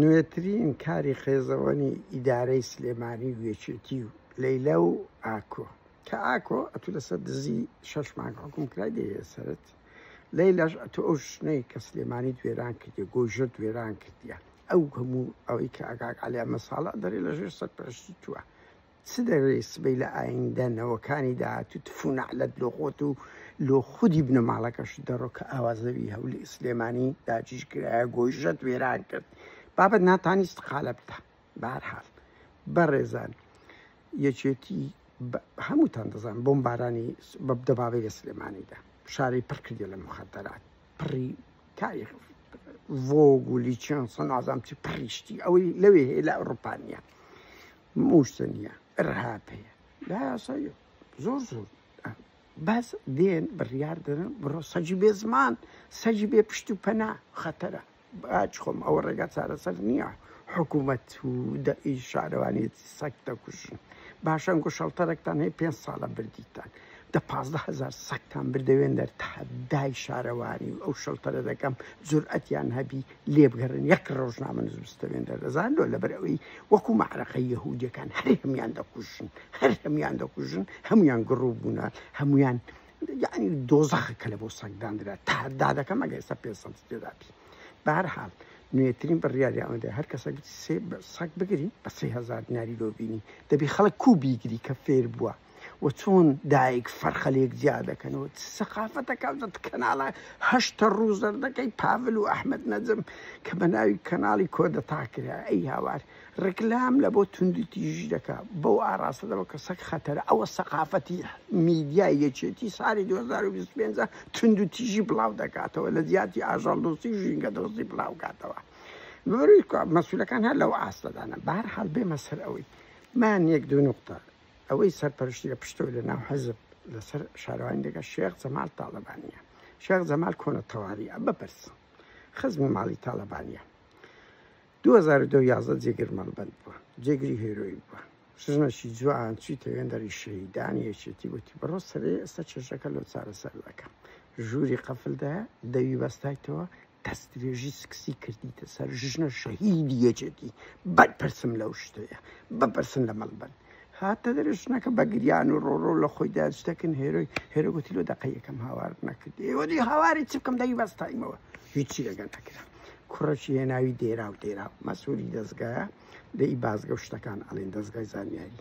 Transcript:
نوێترین کاری خێزەوەنی ئیدارەی سلێمانی و یەکێتی و لەیلا و ئاکۆ کە ئاکۆ ئەتو لەسەر دزی شەش مانگ حکوم کرای دەیەسەرت لەیلاش ئەتو ئەو شنەی کە سلێمانی دوێران کردی گۆژە دوێران کردیە ئەو هەموو ئەوەی کە ئەگاک علی ئەمە ساڵە دەری لەژێر سەرپەرشتی توە چ دەوێ سبەی لە ئایندە نەوەکانی داهاتوو تفو نەعلەت لۆ خۆت و لۆ خودی بنەماڵەکەشت دەڕۆ کە ئاوا زەوی هەولی ئیسلێمانی داگیر کرایە گۆیژەت وێران کرد بابەت ناتانی استقالە بدە بە هەر حاڵ بەڕێزان یەکێتی هەمووتان دەزان بۆم بارانی دەبابەی لە سلێمانیدا شاری پڕ کردی لە مخدرات پڕی تاریخ ڤۆگ و لیچن سەنازام چی پڕیشتی ئەوەی لەوێ هەیە لە ئەوروپانیا مووسنیە رهاپەیە لا یاساییە زۆر زۆر بەس دێن بڕیار دەدەن بڕۆ سەجی بێ زمان سەجی بێ پشت و پەنا خەتەرە باچ خۆم ئەوە ڕێگا چارەسەر نییە حکوومەت و دەئی شارەوانێتی سەک دەکوشن باشەن گو شەڵتەرەکتان هەیە پێ ساڵە بردیتان دە پازدە هزار سەکتان بردەوێن دەر تەحەدای شارەوانی و ئەو شەڵتەرە دەکەم جورئەتیان هەبی لێبگەڕێن یەک ڕۆژنامە نزمستەوێن دەردەزان لۆ لەبەر ئەوەی وەکو مەعرەقە یەهودیەکان هەر هەمان دەکوژن هەر هەمان دەکوژن هەمویان گڕوو بوونە هەمویان یعنی دۆزەخە کە لە بۆ سەنگداندرا تادا دەکەم ئەگە ئێستا پێ سەد تێدابی بارحال نوێترین بڕیاری ئەوەندە هەر کەسە سەک بگری بە سێ هزار دیناری لۆ بینی دەبی خەڵک کو بیگری کە فێر بووە و چۆن دایک فەرخە لێک جیا دەکەن و سەقافەتەکە دەت کەناڵە هەشتە ڕوو زەردەکەی پاڤل و ئەحمد نەجم کە بە ناوی کەناڵی کۆدەتا کرا ئەی هاوار ڕکلام لە بۆ توندی تیژی دەکا بەو ئاراستە دەوە کە سەک خەتەرە ئەوە سەقافەتی میدیا یەکێتی ساری 2025 تونند و تیژی بڵاو دەکاتەوە لە جیاتی ئاژەڵ دۆستی ژینگە دۆستی بڵاو کاتەوە مەسولەکان هەر لەو ئاستەدانە بارحال بێمە سەر ئەوەی من یەک دوو نقطە ئەوەی سەرپەرشتی لە پشتەوەی لە ناو حزب لەسەر شارەوانی دەکە شێخ جەمال تاڵەبانیە شێخ جەمال کۆنە تەواویە بپرس خزمی ماڵی تاڵەبانیە 2011 جێگر مەڵبند بووە جێگری هێرۆی بووە ژنەشی جوان چیتە وێندەری شەهیدانی یەکێتی وتی بڕۆ سەرێ ئێستا چێژەکە لەو چارەسەر دەکەم ژووری قەفلدا دەوی بەستایتەوە دەستدرێژی سکسی کردیتە سەر ژنە شەهیدی یەکێتی بەرپرسم لەو شتەیە بەپرسن لە مەڵ بن هاتە دەرێ ژنەکە بە گریان و ڕۆڕۆ لە خۆی داستەکن هێرۆی هێرەگوتی لۆ دەقە یەکەم هاوارت نەکرد ئێوەدی هاواری چ بکەم دەی بەستایمەوە هیچی لەگەن نەکرا کوڕەشی هێناوی دێرا و دێرا مەسووری دەستگایە دەی بازگە شتەکان ئەڵێن دەستگای زانیاری